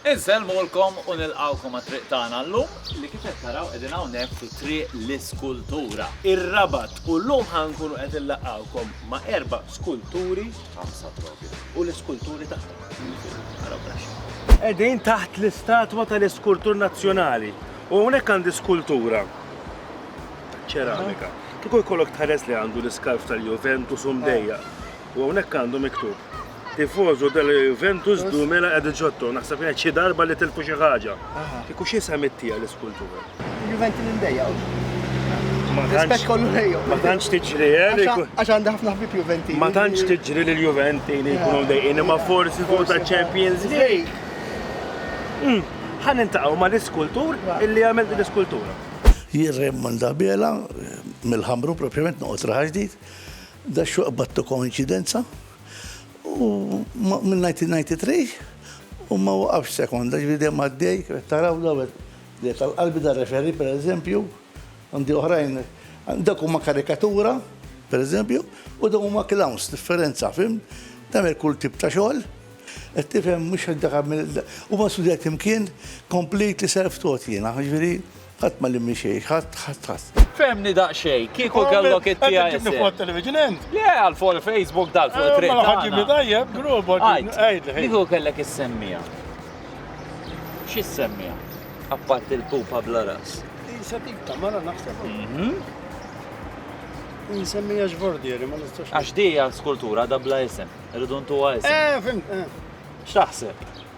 Insellmulkom u nilqgħukom għat-triq tagħna llum li kif qed taraw qegħdin hawnhekk fi Triq l-Iskultura, ir-Rabat u llum ħa nkunu qed inlaqqgħukom ma' erba' skulturi, ħamsa propju, u l-iskulturi tagħhom. Ara wara x'inhu. Qegħdin taħt l-istatwa tal-iskultur nazzjonali u hawnhekk għandi skultura ċeramika. Kieku jkollok tħares li għandu l-iskarf tal-Juventus u mdejjaq. U hawnhekk għandu miktub, Tifożu della Juventus duemila e diciotto, naħseb kienet xi darba li tilfu xi ħaġa. Kieku xi semittija l-iskultura. Juventi li ndejja. Rispett kollu lejhom. Ma tantx tiġri eh, Għax għandha ħafna ħbib Juventi. Ma tantx tiġri lil Juventi li jkunu dejjin imma forsi fuq ta' Champions League. Hmm, ħan intaqgħu ma' l-iskultur illi għamel din l-iskultura. Jirrem Mandabela mill-ħamru propjament noqgħod raħaġdid. Da xuq battu koinċidenza u mill-1993 u ma waqafx sekonda, ġifieri dejjem għaddej, kif qed taraw dawn qed li tal-qalbi da referee pereżempju, għandi oħrajn, dawk huma karikatura pereżempju u dawn huma clowns, differenza, fhimt? Tagħmel kull tip ta' xogħol, qed tifhem mhux dak huma studjati mkien completely self-taught jiena, jiġifieri, Ħadd ma limni xejn, ħadd, ħadd, ħadd. Fehmni daqsxejn, kieku kellok it-tiegħi. Qed ġibni fuq it-television int? Le, għal fuq il-Facebook dal fuq it-triq. Mela ħadd ġibni tajjeb, grobot. Għid. Kieku kellek is-semmija. Xi s-semmija? Apparti l-pupa bla ras. Isa tip ta' mara naħseb. Mhm. Nsemmija x'bordieri, ma nistax. Għax dija skultura da bla isem, irridu ntuwa isem. Eh, fim, eh. X'taħseb?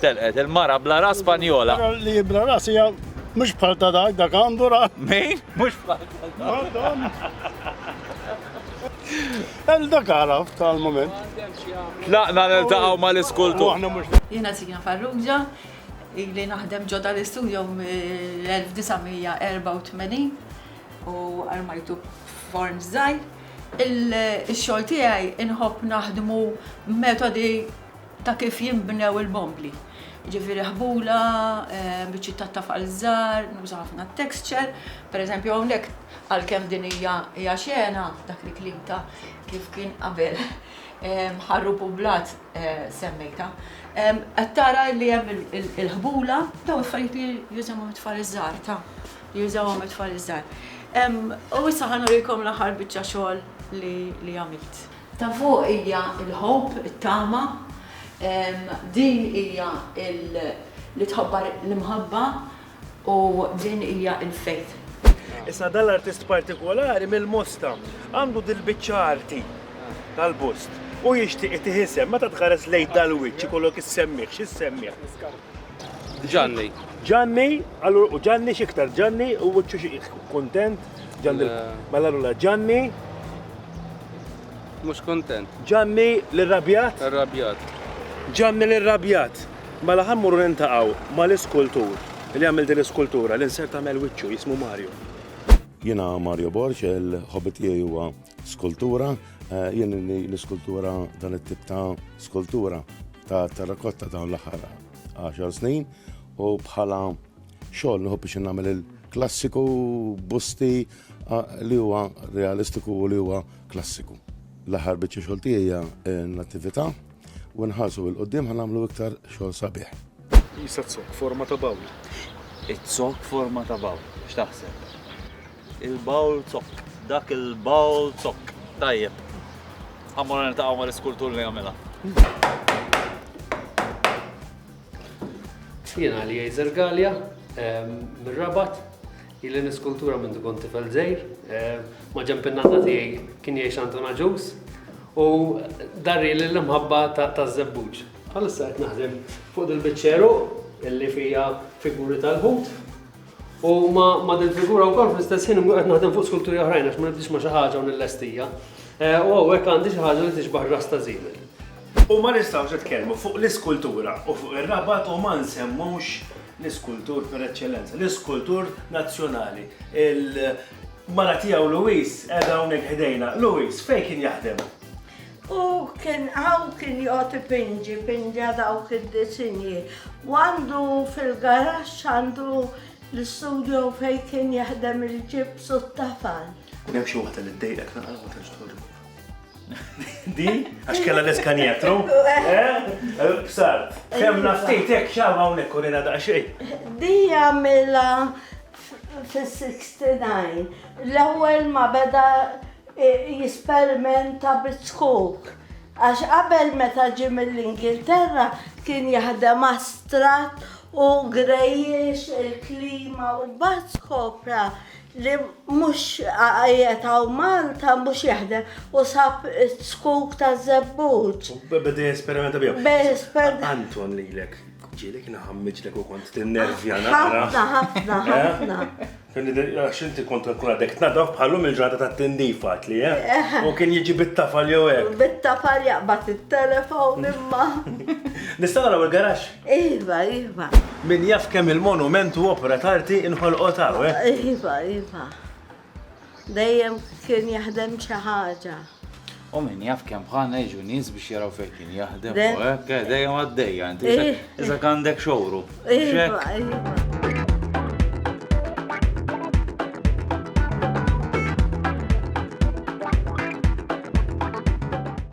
Telqet il-mara bla ras Spanjola. Mara li hi bla ras hija mhux bħal ta' dak, dak għandu ras. Min? Mhux bħal ta' dak. Għal dak għaraf tal-moment. Tlaqna niltaqgħu mal-iskultur. Aħna mhux. Jiena Sina Farrugia, ili naħdem ġo dal-istudio mill-1984 u armajtu form żgħir. Ix-xogħol tiegħi inħobb naħdmu metodi ta' kif jinbnew il-bombli. Jiġifieri ħbula, biċċiet tat-tafal żgħar, nuża ħafna t-texture. Pereżempju hawnhekk għalkemm din hija hija xena, dak il-kliem ta' kif kien qabel ħarrub u blat semmejtha, qed tara li hemm il-ħbula, dawn affarijiet li jużawhom it-tfal iż-żgħar, ta' li jużawhom it-tfal iż-żgħar. U issa ħa nurikom l-aħħar biċċa xogħol li għamilt. Ta' fuq hija l-ħobb, it-tama, din hija li tħobbar l-imħabba u din hija l-faith. Issa dan l-artist partikolari mill-Mosta għandu dil-biċċa arti tal-bust u jixtieq itih isem. Meta tħares lejn dal-wiċċ ikollok issemmih, x'issemmih? Ġanni. Ġanni, allura u Ġanni x'iktar Ġanni u wiċċu xi kuntent Ġanni mela allura Ġanni mhux kuntent. Ġanni l-irrabjat? Irrabjat. Ġanni l-irrabjat. Mela ħammuru nintaqgħu mal-iskultur li għamil din l-iskultura li nsert tagħmel wiċċu jismu Mario. Jiena Mario Borg, il-ħobbi tiegħi huwa Skultura, eh, jien l-iskultura dan it-tip ta' skultura ta' terrakotta dawn l-aħħar 10 snin u bħala xogħol nħu biex nagħmel il-klassiku busti eh, li huwa realistiku u li huwa klassiku. L-aħħar biċċa xogħol tiegħi hija eh, l-attività U nħarsu il-qoddim ħan nagħmlu iktar xogħol sabiħ. Jisa t-sok forma ta' bawl. It-sok forma ta' bawl, x'taħseb? Il-bawl sok, dak il-bawl sok. Tajjeb. Għamur niltaqgħu mal-iskultur li għamela. Jiena li Jajzer Galja, mir-Rabat, Ili niskultura mindu kont tifel żgħir. Maġenb in-nanna tiegħi kien jgħix Anton Agius u darrieli l-imħabba taż-żebbuġ. Bħalissa qed naħdem fuq dil-biċċeru illi fija figuri tal-ħut u ma' dil-figura wkoll fl-istess ħin qed naħdem fuq skulturi oħrajn għax ma nibdix ma' xi ħaġa u nillestija. U hawnhekk għandi xi ħaġa li tixbah ras ta' żiemel. U ma nistgħux nitkellmu fuq l-iskultura u fuq ir-Rabat u ma nsemmux l-iskultur per eċċellenza, l-iskultur nazzjonali. Il-mara tiegħu Louise qiegħda hawnhekk ħdejna. Louise, fejn kien jaħdem? U kien hawn kien jgħod ipinġi, pinġa dawk id-disinji. U għandu fil-garax għandu l-istudio fejn kien jaħdem il-ġibs u t-tafal. Kun hemm xi waħda li ddejqek naqra ma tantx Di, għax kella l-eskanjetru. Bsart, eh? eh, kem naftit, ek xawa unek urina da xej. Di għamila fil-69, l-ewel ma beda eh, jisperimenta bit-skok. Għax qabel meta ġi mill-Ingilterra kien jaħdem astrat u grejjex il-klima u bat skopra li mhux qiegħed hawn Malta mhux jaħdem u sab it-tskuk ta' żebbuġ. Beda jesperimenta biha. Anton lilek ġieli kien ħammiġlek u kont tinnervja naqra. Ħafna, ħafna, eh? ħafna. Għax inti kont nkun għadek tnadaf bħallum il-ġrata ta' tindifat li, eh? eh? U kien jiġi bit-tafal jew hekk. Bit-tafal jaqbad it-telefon imma. Nistgħu naraw il-garax? Iva, iva. Min jaf kemm il-monument u opra tarti inħolqot hawn, eh? Iva, iva. Dejjem kien jaħdem xi ħaġa. U min jaf kemm bħalna jiġu nies biex jaraw fejn kien jaħdem u hekk, eh, dejjem għaddejja, inti eh. iżda għandek xowru. Iva, iva.